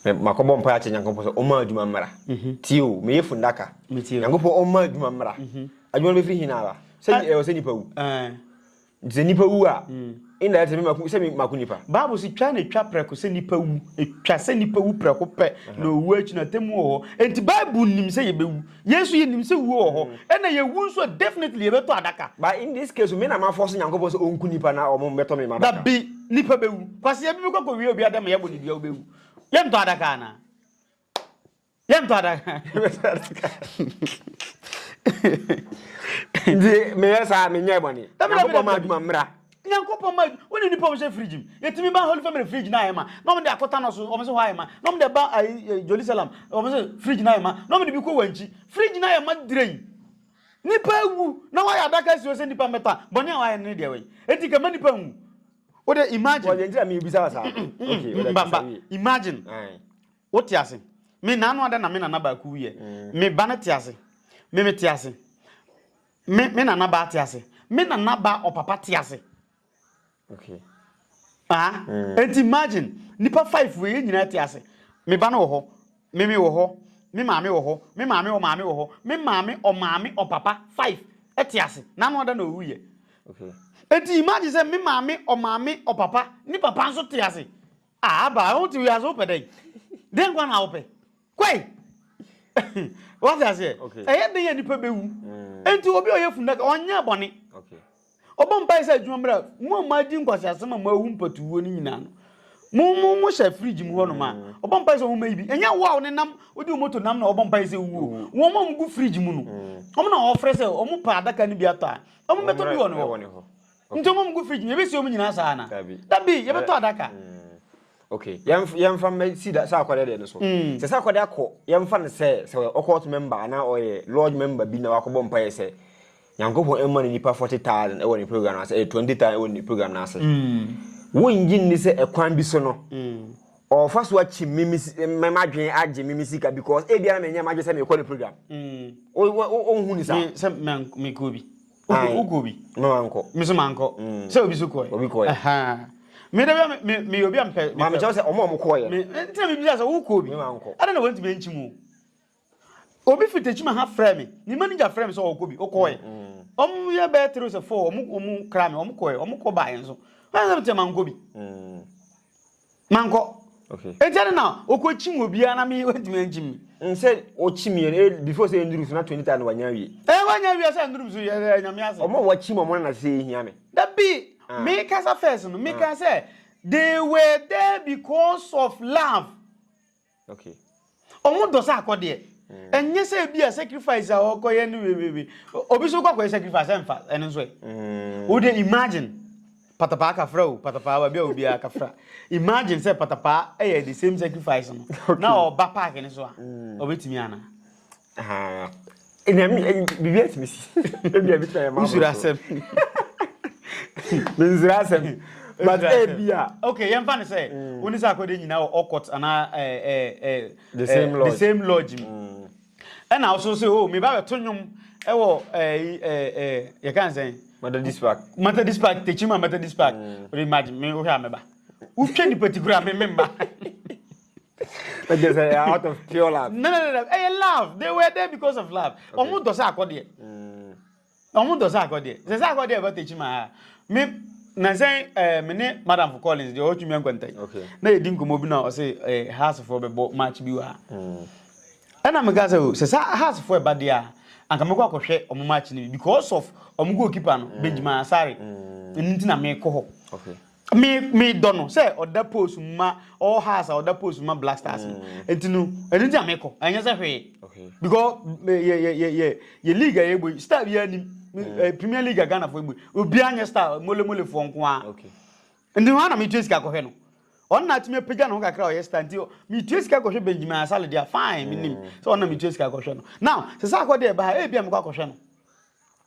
makɔbɔ mpa akyɛ nyankopɔn sɛ ɔma adwuma mmara mhm. tio meyɛ fundaka nyankopɔn ɔma adwuma mmara mhm. adwuma no bɛfiri hena ara sɛ ɛwɔ sɛ nipa wu Sɛ nipa wu a, nna ɛte me mako sɛ me mako nipa. Bible si twa na etwa prɛko sɛ nipa wu. Etwa sɛ nipa wu prɛko pɛ na owu akyi na temu wɔ hɔ. Enti Bible nim sɛ yɛbɛwu. Yɛn nso yɛnim sɛ wuo wɔ hɔ. Ɛna yɛwu nso a definitely yɛbɛtɔ adaka. But in this case, me na ma force Nyankopɔn sɛ ɔnku nipa na ɔmo bɛtɔ me m'adaka. Dabi, nipa bɛwu. Kwasea bi bɛkɔ akɔwie obi adɛm a yɛabɔ ne dua wobɛwu. Yɛntɔ adaka anaa? Yɛnto adaka. Yɛbɛto adaka. Nti meyɛ saa menyɛ bɔne. Nyankopɔn ma adwuma mmra. Nyankopɔn ma adwuma. Wone nipa wɔhyɛ fridge mu. Yɛtumi ba Holy Family fridge na ayɛ ma. Na wɔn de akɔta no so wɔn sɛ hɔ ayɛ ma. Na wɔn de ba ayi eh, eh, Jerusalem wɔn sɛ fridge na ayɛ ma. Na wɔn de bi kɔ wankyi. Fridge na ayɛ ma direyi. Nipa awu na wɔayɛ adaka si hɔ sɛ nipa mmɛta. Bɔne a wɔayɛ no ne deɛ wɔyi. Eti kama nipa nwu. Wode Well, imagine. yɛn nti na mebisa wo saa. Okay, wode mbamba bisa wie. imagine Aye. Wo te ase? Me na ano adɛn na me nana baako wuiɛ? Me ba no te ase? Me me te ase? Me me nana baa te ase? Me nana baa ɔpapa te ase? Okay. Ah, mm. and imagine, nipa five wei nyinaa te ase. Me ba no wɔ hɔ, me me wɔ hɔ, me maame wɔ hɔ, me maame wɔ maame wɔ hɔ, me maame ɔ maame ɔ papa five te ase. N'ano ada na owuiɛ. Okay. And imagine sɛ me maame ɔ maame ɔ papa, ne papa nso te ase. Ah abaa wote wiase wopɛ dɛn dɛn nkwa na wopɛ kwai wate aseɛ ɛyɛ dɛn yɛ nipa bɛwu mm. enti obi a ɔyɛ funaka ɔnyɛ bɔne ɔbɔ mpae sɛ adwuma mmra mu a moadi nkwasi asɛm a moawu mpatuwuo no nyinaa no mo mo mo hyɛ fridge mu hɔ nom a mm. ɔbɔ mpae sɛ wɔn mɛyi bi ɛnyɛ wo a wɔn nam wode wɔn moto nam na ɔbɔ mpae sɛ wuo mm. wɔn a wɔn gu fridge mu no wɔn na wɔfrɛ sɛ wɔn pa adaka no bi atɔ a wɔn bɛtɔ bi wɔ ne hɔ Nti ɔmo ngu fridge mu, yɛbɛsi ɔmo nyinaa saa anaa? Dabi. Dabi, yɛbɛtɔ adaka. Mm. Okay, yɛmf- yɛmfa mmɛ si da sɛ akɔdɛ deɛ no so. Mm. Sɛ sɛ akɔdɛ akɔ, yɛmfa no sɛ sɛ ɔyɛ ɔkɔɔt member anaa ɔyɛ lodge member bi na wakɔbɔ mpaeɛ sɛ Nyankopɔn mma no nipa 40,000 ɛwɔ ne program no ase, ɛyɛ 20,000 ɛwɔ ne program no ase. Mm. Wongye nni sɛ ɛkwan bi so no, Mm. ɔfa so akyi me me si- me madwene agye me me sika because ebia na menyɛ madwene sɛ mekɔ ne program. Mm. Wo- wo- wo- Wonhu ne saa? Me, sɛ mɛn- mekɔ bi. wokɔ bi me so mankɔ mm. sɛ obi so kɔɛ obi kɔɛ meda bia meyɛ obi a mpɛ ma mekyɛw sɛ ɔma ɔmo kɔɔyɛ nti na mebisa sɛ wokɔ bi ɛna na wɔntumi ankyi mu obi fi takyima ha frɛ me ne manager frɛ me sɛ ɔkɔ bi wokɔɛ ɔmo yɛ bɛyɛ three sɛ four ɔmo ɔmo kra me ɔmo kɔɛ ɔmo kɔ baayɛ nso ɛna sɛ metɛ mankɔ bi mankɔ okay eti ɛna na okɔ kyim wɔ biara na mi wɛntumi ɛnkyim mi. n sɛ ɔkyim yɛ ɛ eh, before sɛ ɛnduru so na twenty thousand wanya wie. ɛ eh, wanya wie sɛ ɛnduru so yɛ ɛ eh, nyame ase. ɔmo wɔ kyim ɔmo na na sɛ ehia mi. dabi ah. mi kasa first no mi ah. ka sɛ they were there because of love. Okay. Ɔmo dɔ sɛ akɔ deɛ. Ɛnyɛ sɛ ebi a sacrifice a ɔkɔ yɛ no wewewe. Obi so kɔ akɔ yɛ sacrifice ɛnfa ɛno nso ɛ. Mm. Wo de imagine patapaa kafra o patapaa baabi a obiara kafra. Imagine sɛ patapaa ɛyɛ the same sacrifice no. Na ɔba park no so a. Ɔbɛtumi ana? biribi atumi si ebia bi tena yɛ ma wosuro asɛm mensuro asɛm but ebia okay yɛmfa no sɛ mm. wone sɛ akɔde nyinaa wɔ ɔkɔt anaa eh, eh, eh, the same lodge mu mm. ɛna wo so sɛ o oh, meba bɛto nnwom ɛwɔ yɛka n sɛn methodist park methodist park tekyima methodist park mm. wode imagine me wohwɛ a mɛba wotwa nnipa ti kora me memba ɛgye sɛ out of pure love. no no no ɛyɛ eh, love they were there because of love ɔmo dɔ sɛ akɔdeɛ ɔmo dɔ sɛ akɔdeɛ sɛ sɛ akɔdeɛ ɛbɛ tɛkyi maa ha me nansɛn ɛɛ eh, me ne madam for collins deɛ ɔtwi mi nkwanta yi na yɛ di nkɔmɔ bi na ɔsɛ ɛɛ eh, house foɔ bɛ bɔ match bi wɔ ha ɛna mi ka sɛ o sɛ sɛ house foɔ ɛba deɛ a anka mi kɔ akɔhwɛ ɔmo match ni bi because of ɔmo goalkeeper no benjamin asare ɛnu ti na mi kɔ hɔ. me me dɔ no sɛ ɔda post mu ma all house a ɔda post mu ma black stars no mm. nti no ɛno nti a mekɔ ɛnyɛ sɛ hwee because yɛ yɛ yɛ yɛ yɛ league a yɛbɔ yi star biara nim mm. eh, premier league a ghana fo yɛbɔ yi obiara nyɛ star mole mole foɔ nko ara nti hɔ na metua sika kɔhwɛ no ɔno na atumi apagya ne ho kakra ɔyɛ star nti metua sika kɔhwɛ benjamin asale deɛ fine menim mm. sɛ ɔno na metua sika kɔhwɛ no now sɛ sɛ akɔ deɛ ɛba ha ɛbia mekɔ akɔhwɛ no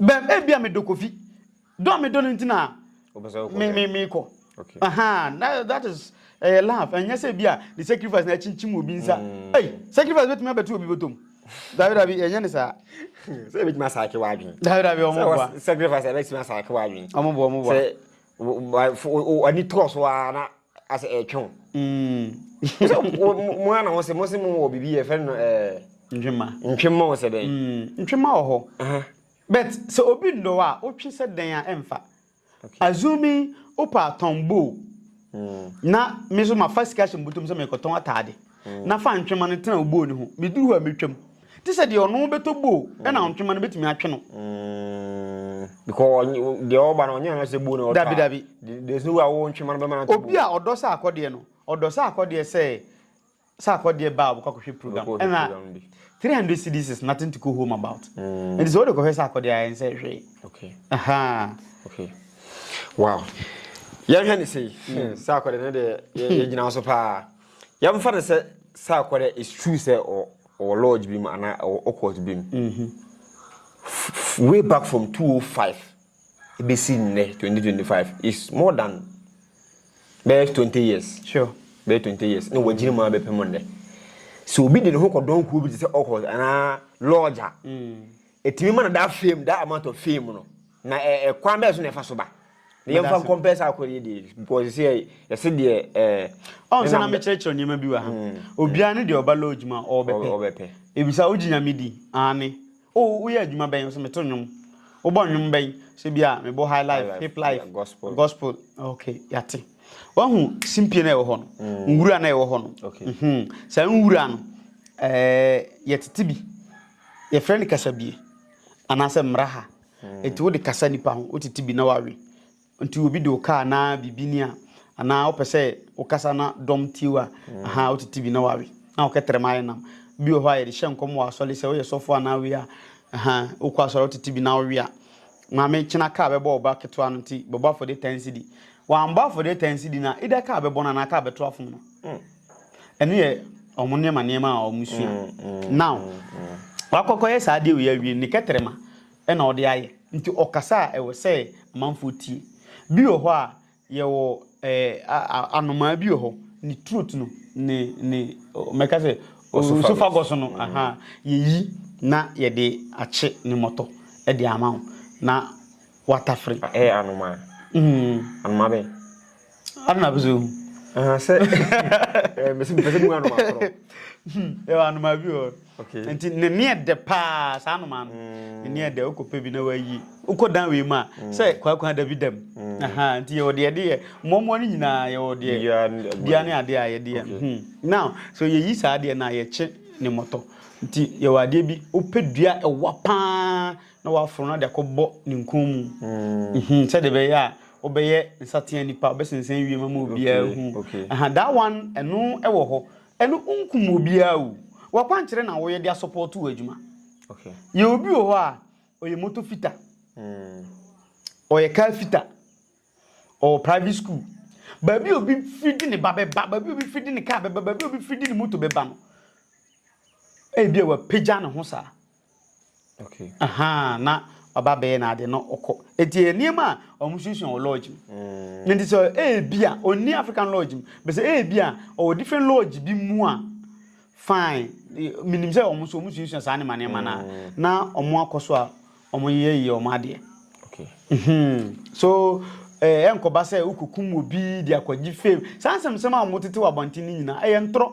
Bɛm, ebia medɔ Kofi. Dɔ a medɔ no nti na me me me kɔ. Okay. Aha, that, that is ɛyɛ eh, love. Ɛnyɛ sɛ ebia the sacrifice na ɛkyinkyim obi nsa. Mm. Hey, sacrifice betumi abɛto obi bɔtɔm. Dabi dabi, ɛnyɛ ne saa. Sɛ ebetumi asaake w'adwene. Dabi dabi, ɔmo boa. Sɛ sacrifice ɛbɛtumi asaake w'adwene. Ɔmo boa, ɔmo boa. Sɛ ani tɔɔ so ara na Asɛ ɛretwe wo. Mm. So mo ara na mo se mo se mo wɔ biribi yɛ fɛ no ɛɛ. Ntwema. Ntwema wɔ sɛ dɛn? Mm. Ntwema wɔ hɔ. But sɛ obi ndɔ a wotwe sɛ dɛn a ɛmfa. Assuming wopɛ atɔn bow. Mm. Na me so mafa sika hyɛ mbutom sɛ mekɔtɔn ataade. Mm. Na fa ntwema no tena wo bow no ho. Meduru hɔ a metwam. Te sɛ deɛ ɔno bɛtɔ boo ɛna mm. ntwema no bɛtumi atwe no. Mm. because deɛ ɔba no ɔnyɛ no sɛ boo na ɔtɔ dabi dabi there's no way a wɔwɔ ntwema no bɛma no atɔ obi a ɔdɔ sɛ akɔdeɛ no ɔdɔ sɛ akɔdeɛ sɛ sɛ akɔdeɛ baa a ɔbɛkɔ akɔhwɛ program ɛna three hundred cedis is nothing to go home about mm. ɛnti sɛ wode kɔhwɛ sɛ akɔdeɛ ayɛ nsɛ hwee okay. Aha. okay. wow yɛhwɛ ne sei sɛ akɔdeɛ no deɛ yɛgyina so paa Yɛmfa no sɛ saa kɔ dɛ it's true sɛ ɔwɔ lodge bi mu anaa ɔwɔ occult bi mu. Way back from 205 ebesi nnɛ 2025 is more than bɛyɛ 20 years. Sure. Bɛyɛ 20 years. Na wɔagyina mu abɛpem nnɛ. Sɛ obi de ne ho kɔdɔn kuo bi te sɛ occult anaa lodge a. Mm. Etumi ma no daa fame, that amount of fame no. Na ɛ ɛ kwan bɛyɛ so na ɛfa so ba? Na yɛn fa nkɔmpɛ saa akɔdeɛ deɛ because sɛ yɛ yɛsɛ deɛ ɛɛ. Ɔn sɛ na mi kyerɛkyerɛ nneɛma bi wɔ ha. Obiara ne deɛ ɔba lodge ma ɔbɛpɛ. Ɔbɛpɛ. Ebisa ogye nyame di? Aane. O woyɛ adwuma bɛn? Ɔsɛ meto nnwom. Wobɔ nnwom bɛn? Sɛ bi a mebɔ high life, hip life, gospel, gospel. Ok yate. Wahu simpie na ɛwɔ hɔ no. Nwura na ɛwɔ hɔ no. Saa nwura no ɛɛ yɛtete bi Yɛfrɛ no kasabie anaasɛ mmaraha. Nti wode kasa nipa ho, wotete bi na wawe. Nti obi de wo kaa na biribi ni a, anaa wopɛ sɛ wokasa na dɔm tie wo a, aha, wotete bi na wawe. Na wokɛtrɛ ma ayɛ nam. Bi wɔ hɔ a yɛde hyɛ nkɔm wɔ asɔre sɛ woyɛ sɔfo anaa wei a, aha, wokɔ asɔre a wotete bi na wowe a, maame kyena kaa bɛbɔ wo ba ketewa no nti bɛbɔ afɔdeɛ 10 cedi. Wambɔ afɔdeɛ 10 cedi no a, either kaa bɛbɔ no anaa kaa bɛto afom no. Ɛno yɛ wɔn nneɛma nneɛma a wɔsua. Now, wakɔkɔyɛ saa adeɛ wei awie ne kɛtrɛma na ɔde ayɛ. Nti ɔkasa a ɛwɔ sɛ amanfoɔ tie. Bi wɔ hɔ a yɛwɔ ɛɛ anomaa bi wɔ hɔ ne throat no ne ne mɛka sɛ osophagus no aha yɛyi na yɛde akye ne mmɔtɔ de ama wo na watafere. Ɛyɛ anomaa. Anomaa bɛn? Ana bi so. Aha sɛ ɛɛ mesi mpɛsɛ mu anoma koro. Ɛwɔ anoma bi wɔ. Okay. Nti ne ne yɛ dɛ paa saa anoma no. Mm. Ne ne yɛ dɛ okɔ pɛ bi na wayi. Okɔ dan wei mu a mm. sɛ kwakwa da bi dam. Mm. Aha nti yɛwɔ deɛ deɛ mmoamoa no nyinaa yɛwɔ deɛ dua ne adeɛ a yɛde yɛ. Hmm. Now so yɛyi saa adeɛ no a yɛkye ne mmɔtɔ. Nti yɛwɔ adeɛ bi wopɛ dua ɛwa paa na waforo no ade akɔbɔ ne nkɔn mu, mm-hmm, sɛdeɛ ɛbɛyɛ a wobɛyɛ nsatea nipa, wobɛsensɛn wiem ama obiara hu. Aha, that one, ɛno ɛwɔ hɔ. Ɛno nkum obiara o. Wakwankyerɛ na woyɛ de asɔpɔɔto wɔ adwuma. Yɛ obi wɔ hɔ a, ɔyɛ moto fita, mm. ɔyɛ kaa fita, ɔwɔ private school. Baabi obi firi de ne ba bɛba, baabi obi firi de ne kaa bɛba, baabi obi firi de ne moto bɛba no, ebi a wapagya ne ho saa. Okay. Aha, na ɔba bɛyɛ na ade no ɔkɔ. Eti nneɛma a wɔn suasua wɔ lodge mu. Mm. Nti sɛ ebi a onni African lodge mu, bɛsɛ ebi a ɔwɔ different lodge bi mu a fine. Minim sɛ wɔn nso wɔn suasua saa nneɛma nneɛma na mm. na wɔn akɔ so a wɔn yɛ yɛ wɔn adeɛ. Okay. Mm-hmm. So ɛɛ eh, nkɔba sɛ wokokum obi de akɔgye fame. Saa nsɛmsɛm a wɔn tete wɔ abɔnten no nyinaa ɛyɛ ntorɔ.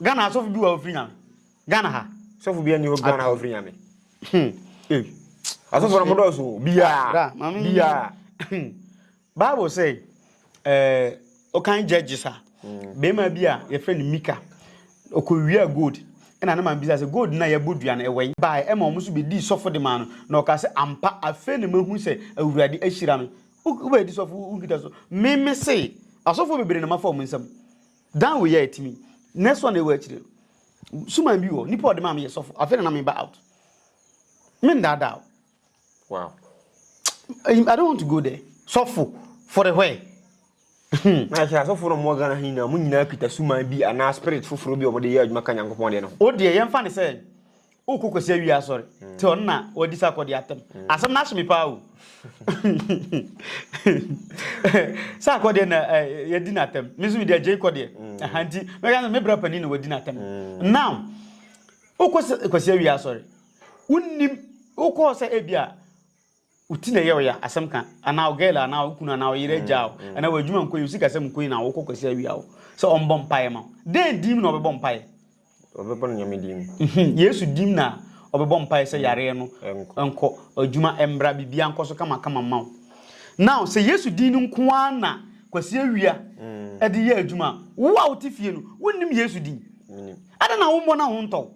Ghana ha sɔfo bi wɔ ofiri nyame. Ghana ha. Sɔfo bi ani hɔ Ghana ha ofiri nyame. Hmm. Eh. Asɔfo na mo dɔ so. Bia. Ah, mami. Bia. Hmm. Bible say eh okan judges a. Hmm. Bema bi a your friend Mika. Okowia gold. ɛna ne maame bisa sɛ gold na yɛbɔ dua no ɛwɛn bae ɛma wɔn nso bɛdii sɔfo de maa no na ɔka sɛ ampa afei na mahu sɛ awurade ahyira me wobɛdi sɔfo wonkita so meme se asɔfo bebree na mafa wɔn nsam Daa wei a etumi. Next one a ɛwɔ akyire no, suman bi wɔ, nipa a ɔde maa me yɛ sɔfo, afei na na meba out. Me ndaadaa o. Wow. I don't want to go there. Sɔfo, for the where? Hmm. Na sɛ asɔfo no mo Ghana ha nyinaa, mo nyinaa kita suman bi anaa spirit foforɔ bi a wɔde yɛ adwuma ka Nyankopɔn deɛ no ho. O deɛ yɛmfa ne sɛ Wo ko kwasi awie asɔre. Te ɔno na wadi sa akɔde atam. Asɛm no ahye me paa o. Sa akɔdeɛ na yɛdi no atam. Me nso mede agyei kɔdeɛ. Aha nti mɛka sɛ me bra panin na wadi no atam. Now wo ko kwasi awie asɔre. Wonnim wo kɔɔ sɛ ebi a wo ti na ɛyɛ ɔya asɛm ka anaa wo girl anaa wo kunu anaa wo yere agya wo anaa wo adwuma nkɔ yi wo sikasɛm nkɔ yi na wokɔ kwasi awia wo sɛ ɔmbɔ mpaeɛ ma wo dɛn dim na ɔbɛbɔ mpaeɛ ɔbɛbɔ no nyame dim mhm. yesu dim na ɔbɛbɔ mpaeɛ sɛ yareɛ no nkɔ adwuma mbra biribia nkɔ so kama kama ma wo now sɛ yesu din no nko ara na kwasi awia mm. ɛde yɛ adwuma wo a wote fie no wonnim yesu din adɛn na wommɔ no ho ntɔw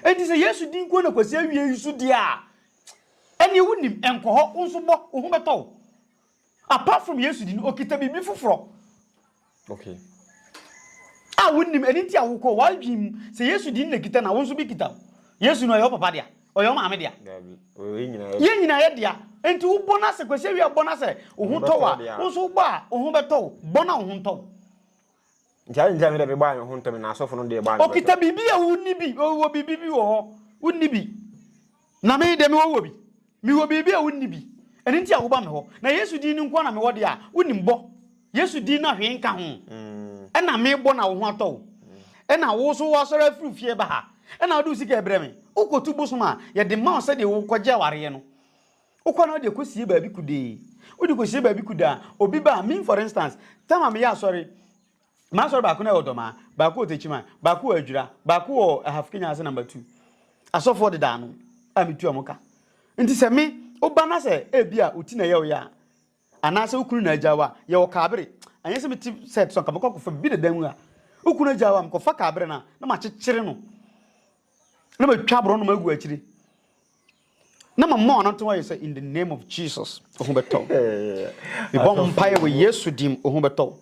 Enti sɛ Yesu din nko na kwasi awiei nso di a, ɛnneɛ wonim, ɛnkɔ hɔ, wo nso bɔ, wo ho bɛtɔ wo. Apart from Yesu din, okita biribi foforɔ. Okay. A wonim, ɛno nti a wokɔ, w'adwene mu, sɛ Yesu din na kita na wo nso bi kita wo. Yesu no ɔyɛ wo papa dea, ɔyɛ wo maame dea. Yɛn nyinaa yɛ dea. Enti wobɔ no asɛ, kwasi awiei a wobɔ no asɛ, wo ho tɔ wo a, wo nso wobɔ a, wo ho bɛtɔ wo. Bɔ na wo ho ntɔ wo. Nti adɛn nti a me deɛ mebaa me ho ntɛm na asɔfo no deɛ baa no pɛpɛ? Ɔkita biribi a wonni bi, ɔwɔ biribi bi wɔ hɔ, wonni bi. Na me deɛ mewɔ wɔ bi. Mewɔ biribi a wonni bi. Ɛno nti a woba me hɔ. Na Yesu din no nko ara na mewɔ deɛ a wonim bɔ. Yesu din no a hwee nka ho. Ɛna mebɔ na wo ho atɔ wo. Ɛna wo nso woasɔre afiri wo fie ba ha. Ɛna wode wo sika rebrɛ me. Wokɔtu bosom a, yɛde ma wo sɛdeɛ wokɔgye awareɛ no. Wokɔ na wode kɔsie baabi kudee. Wode kɔsie baabi kuda a, obi ba a, me for instance, tam a meyɛ asɔre, m'asɔre baako no wɔ Dɔmaa, baako wɔ Techiman, baako wɔ Adwira, baako wɔ Ahafo Kenya ase number two. Asɔfoɔ dedaa no a metu wɔn ka. Nti sɛ me, woba na sɛ ebi a wo ti na ɛyɛ wo ya a, anaasɛ wo kunu na agya wo a, yɛwɔ kaabere. Anyɛ sɛ mete set so anka mɛkɔ akɔfa biribi deda mu a, wo kunu agya wo a, mekɔfa kaabere no a, na makyekyere no. na matwa aborɔnom agu akyiri na mama wɔn anato ayɛ sɛ in the name of jesus ohu bɛtɔ mebɔ mpaeɛ wɔ yesu dim ohu bɛtɔ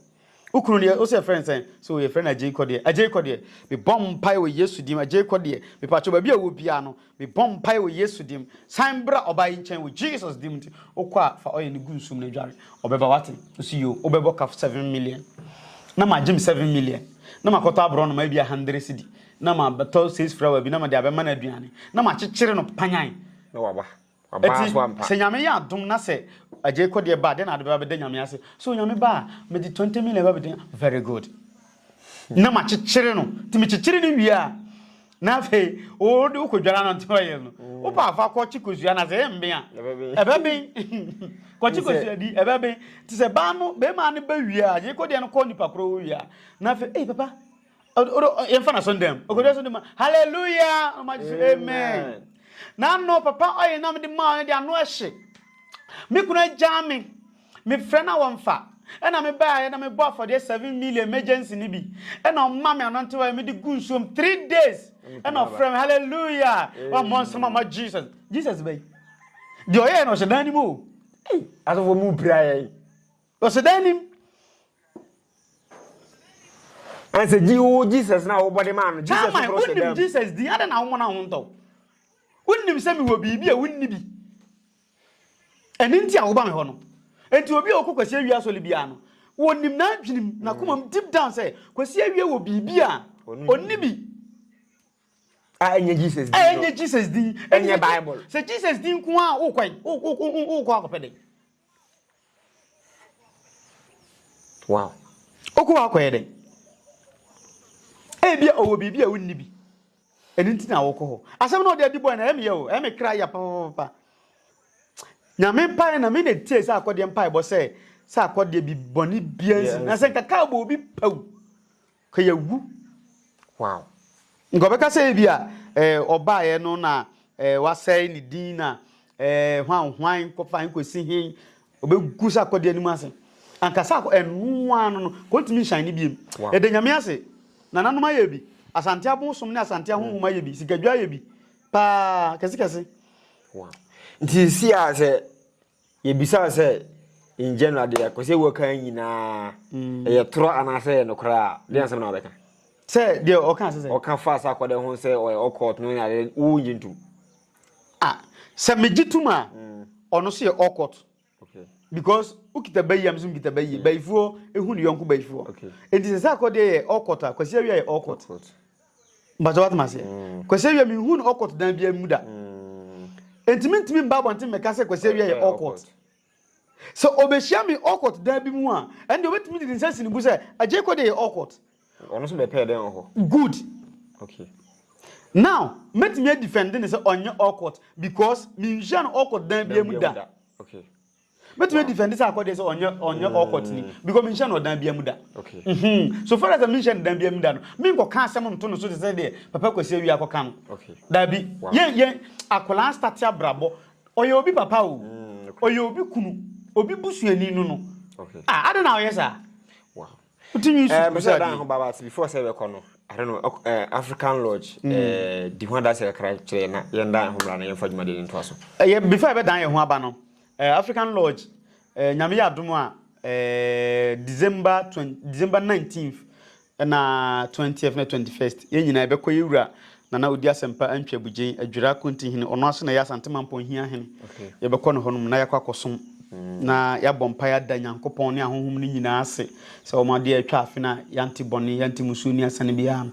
wokunu deɛ wo sɛ yɛfrɛ no sɛn sɛ wɔyɛ frɛ no agyei kɔ deɛ agyei kɔ deɛ mebɔ mpaeɛ wɔ yesu dim agyei kɔ deɛ mepatwo baabi a wɔ biara no mebɔ mpaeɛ wɔ yesu dim san bra ɔbaa yi nkyɛn wɔ jesus dim nti wokɔ a fa ɔyɛ no gu nsum no adware ɔbɛba wate ɔsi yo wobɛbɔ kaf 7 million na magye me 7 million na makɔtɔ aborɔ no ma bi 100 cedi Na mabɛtɔ sage flower bi na mede abɛma no aduane, na makyekyere no panyan. Na waba. Waba Eti, so ampa. sɛ Nyame yɛ adom na sɛ Agyei Kodeɛ ba a, dɛn na ade bɛba bɛda Nyame ase? So Onyame ba a, mede 20 million ba bɛda Very good. Na makyekyere no. Nti mekyekyere no wie a, na afei wode wokɔdwara no nti ɔyɛ no. Wopɛ a fa kɔkye kosua no ase, ɛmben a. Ɛbɛben. Ɛbɛben. Kɔkye kosua di, ɛbɛben. Nti sɛ baa no, bɛmaa no ba wie a, Agyei Kodeɛ no kɔ nipa korɔ hɔ wie a, na afei, ei papa, yɛmfa no asɔndam ɔkɔdwa so de ma halleluya ɔmagye so amen na ano papa ɔyɛ na mede maa no de ano ɛhye me kunu agyaa me mefrɛ no a wɔmfa ɛna mebaeɛ na mebɔ afɔdeɛ 7 million emergency no bi ɛna ɔma me anɔntewa mede gu nsuom 3 days ɛna ɔfrɛ me halleluya wammɔ nsɛm ama jesus jesus bɛyi deɛ ɔyɛɛ no ɔhyɛ dan no mu o asɔfoɔ mu pira yɛn Ɔsɛ dɛ enim. Ansa gye wo Jesus na wɔbɔ de maa no. Jesus Carmine, foforo sɛ wonim dɛm. Jesus din, adɛn na wo mmɔna ho ntɔ wo? Wonim sɛ mewɔ biribi a wonni bi. Ɛno nti a woba me hɔ no. Enti obi a ɔkɔ Kwasi Awie asɔre biara no, wɔnim n'adwenem, n'akomam deep down sɛ Kwasi Awie wɔ biribi a onni bi. A ɛnyɛ Jesus din A no. ɛnyɛ Jesus din. Ɛnyɛ Bible. Sɛ Jesus din nko ara a, wokɔ ɛ- wo- wo- wo- wokɔ akɔpɛ dɛn? Wow. Ɔkɔ hɔ akɔyɛ dɛn? Ebia ɔwɔ biribi a wonni bi. Ɛno nti na wɔkɔ hɔ. Asɛm na ɔde adi bɔe na ɛyɛ meyɛ o, ɛyɛ me kra ya papapapa. Nyame mpae na me na etie sɛ akɔdeɛ mpaebɔ sɛ sɛ akɔdeɛ bi bɔne bia nsi na sɛ nkaka abɔ obi pɛw. Ka yɛ wu. Wow. Nka ɔbɛka sɛ ebi a eh, ɔbaeɛ no na eh, wasɛe ne din na eh, hwan hwan kɔfa nkɔsi he ɔbɛgu sɛ akɔde anim ase anka sɛ ɛnoa no no kɔntumi nhyɛn ne biem wow. ɛda nyame ase nananom ayɛ bi asante abosom ne asante ahohom mm. ayɛ bi sikadwa ayɛ bi paa kɛsekɛse wow. nti si a sɛ Yɛbisaa sɛ, in general deɛ kɔ sɛ wɔka nyina mm. ɛyɛ torɔ anaasɛ ɛyɛ nokorɛ a deɛ asɛm na wɔbɛka sɛ deɛ ɔka sɛ ɔka fa sɛ akɔdɛ ho sɛ ɔyɛ ɔkɔɔt no na wogye ntom ah sɛ megye tom a mm. ɔno so yɛ ɔkɔɔt because wokita bayi am so mkita bayi bayifoɔ ɛhu ne yɔnko bayifoɔ ɛnti sɛ sɛ akɔdeɛ yɛ ɔkɔt a kwasi awia yɛ ɔkɔt Mpakyɛ wate maseɛ. Mm. Kwasi awia mi hu no ɔkɔt dan bi mu da. Mm. Enti mi ntumi mba abɔnten mɛka sɛ kwasi awia yɛ ɔkɔt. Sɛ ɔbɛhyia mi ɔkɔt dan bi mu a, ɛnde ɔbɛtumi de ne nsa si ne bu sɛ agye kɔ de yɛ ɔkɔt. Ɔno nso bɛpɛɛ dɛn wɔ hɔ? Good. Okay. Now, mɛtumi adifɛnde ne sɛ ɔnyɛ ɔkɔt because menhyia no ɔkɔt dan bi mu da. Okay. mɛtumi defend sɛ akɔdeɛ sɛ ɔnyɛ ɔnyɛ ɔkɔtene mm. because menhyɛ no ɔdan bia mu da mhm. so far as menhyɛ no dan bia mu da no menkɔka asɛm nto no so te sɛ deɛ papa kwasi awie akɔka no daabi yɛyɛ akwadaa starte abrabɔ ɔyɛ obi papa o mm, ɔyɛ obi kunu obi busuani no no ah, ade na ɔyɛ saa Wote nwi so bisa dan ho baba ti before sɛ bɛkɔ no. I don't know eh, African Lodge mm. eh, di ho adanse kakra kyerɛ na yɛn dan ho mmara na yɛmfa dwumadi no ntoa so. Ɛyɛ eh, before ɛbɛdan yɛn ho aba no eh, African Lodge eh, nyame yɛ adom a eh, December 20, December 19th na 20th na 21st yɛn nyinaa ɛbɛkɔ yɛwura Nana odi asɛmpa antwi abugyen adwira akonti hene ɔno ara so na ɛyɛ asante mampɔn hia hene yɛbɛkɔ ne hɔnom na yɛakɔ akɔsom na yɛabɔ mpae ada nyankopɔn ne ahonhom no nyinaa ase sɛ wɔn adeɛ atwa afe no a yɛante bɔne yɛante musuo ni asane biara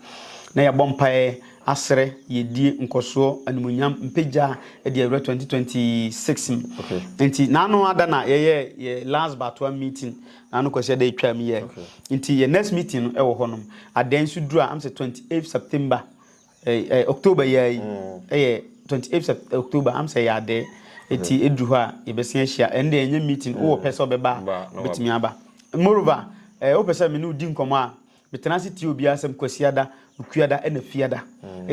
na yɛabɔ mpae asrɛ yɛdie nkɔsoɔ animonyam mpagya de awura 2026 mu nti naano ada na yɛyɛ yɛ last batoa meeting Na no kwasi ada etwa mu yɛ. Nti yɛ next meeting no ɛwɔ hɔ nom. Adan nso duru a am sɛ twenty eight September ɛɛ ɛɛ October yi ara yi ɛyɛ twenty eight Sept October am sɛ ɛyɛ adɛɛ. Eti eduru hɔ a yɛbɛsen ahyia. Ɛnde ɛnyɛ meeting wowɔ pɛ sɛ ɔbɛba a obetumi aba. Moreover ɛɛ wopɛ sɛ me ne wo di nkɔmɔ a Metena ase tie obiara asɛm Kwasiada, Okuada ɛna Fiada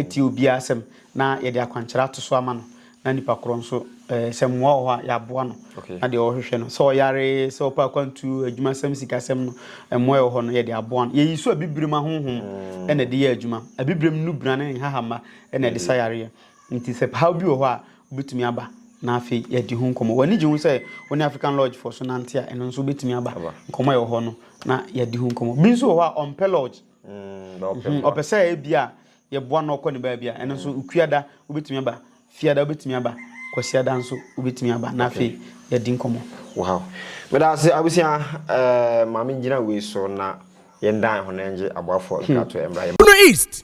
tie obiara asɛm na yɛde akwankyerɛ ato so ama no na nipa korɔ nso sɛ mmoa wɔ hɔ a yɛaboa no na deɛ ɔhwehwɛ no sɛ ɔyare sɛ ɔpɛ akwantuo adwumasɛm sikasɛm no mmoa ɛwɔ hɔ no yɛde aboa no yɛyi so abibirem ahonhom ɛna ɛde yɛ adwuma abibirem nnubra ne nhahamma ɛna ɛde sa yareɛ Enti sɛ haw bi wɔ hɔ a, wobetumi aba na afei yɛadi ho nkɔmmɔ. W'ani gye ho sɛ wo ne African Lodgefoɔ so nante a, ɛno nso wobetumi aba nkɔmmɔ a ɛwɔ hɔ no na yɛadi ho nkɔmmɔ. Bi nso wɔ hɔ a ɔmpɛ lodge, mm, ɔpɛ sɛ ebi a yɛboa no ɔkɔ ne baabi a, ɛno nso Kuada wobetumi aba, Fiada wobetumi aba, Kwasiada nso wobetumi aba na afei yɛadi nkɔmmɔ. Wow. Meda ase abusua, eh, maame gyina wei so na yɛn dan ho na yɛngye aboafoɔ nkratoɛ mmra yɛn. Bono East,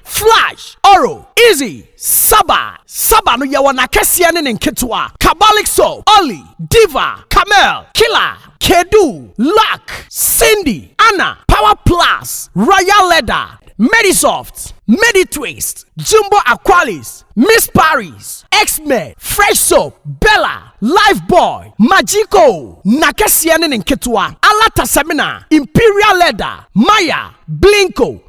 Flash, Oro, Izzy, Saba, Saba no yɛwɔ n'akɛseɛ ne ne nketewa, Kabalik Soap, Olly, Diva, Camel, Killer, Kedu, Luck, Cindy, Anna, Power Plus, Royal Leather, Medisoft, Meditwist, Jumbo Aqualis, Miss Paris, X-Men, Fresh Soap, Bella, Lifebuoy, Magico, n'akɛseɛ ne ne nketewa, Alata Semina, Imperial Leather, Maya, Blinko,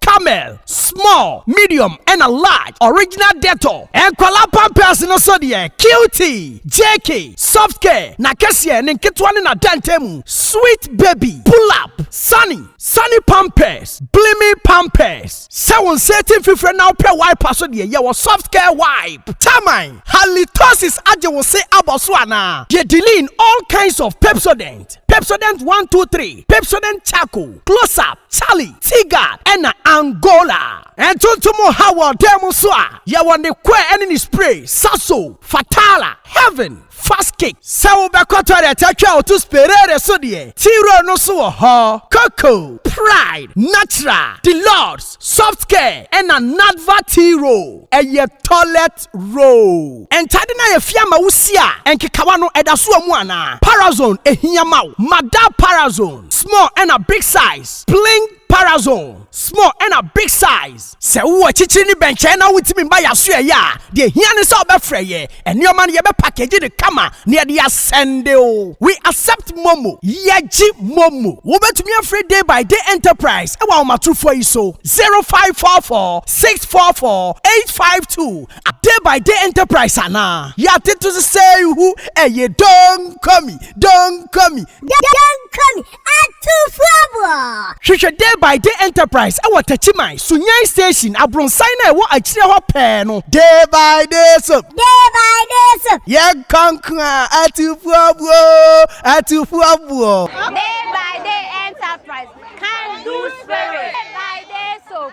Camel, small, medium ɛna large, original Dettol, nkwadaa pampers no so deɛ cutie, JK, soft care, na kɛseɛ, ne nketewa ne n'adantan mu, sweet baby, pull up, sunny, sunny pampers, blimi pampers, sɛ wo nsa ati mfifire na wopɛ wiper so deɛ yɛwɔ soft care wipe, taman, halitosis agye wo se abɔ so anaa? Deɛ diline, all kinds of Pepsodent, Pepsodent one two three, Pepsodent charcoal, close up, Charlie Tigard na Angola. Ntontom ha wɔ dan mu nso a, yɛwɔ ne kɔɛ ne ne spray, Sasso, Fatala, Heaven, Fast Kick. Sɛ wobɛkɔ toilet atwa a woto Sperere so deɛ, T-Roll no nso wɔ hɔ. Coco, Pride, Natural, Deluxe, Soft Care na Nadva T-Roll yɛ toilet. First row. Ntade no a yɛafia ama wo si a nkekawa no ɛda so wɔ mu anaa? Parazone ɛhia ma wo? Ma da Parazone small ɛna big size Pling Parazone small ɛna big size. Sɛ wowɔ akyikyiri ne bɛnkyɛn na wontumi mma yɛn asoɛeɛ a, deɛ ɛhia ne sɛ wobɛfrɛ yɛn. Nneɛma no yɛbɛpakegye no kama na yɛde asɛnde wo. We accept momo, Yɛgye momo. Wobɛtumi afrɛ Day by Day Enterprise wɔ ahomatorofoɔ yi so, 0544. six four four eight five two a day by day enterprise anaa yɛate to so sɛ hu ɛyɛ donkomi donkomi donkomi atufoɔboɔ hwehwɛ day by day enterprise ɛwɔ takyiman sunyan station abronsan na ɛwɔ akyire hɔ pɛɛ no day by day so day by day so yɛn kanko a atufoɔboɔ atufoɔboɔ day by day enterprise can do spirit day by day so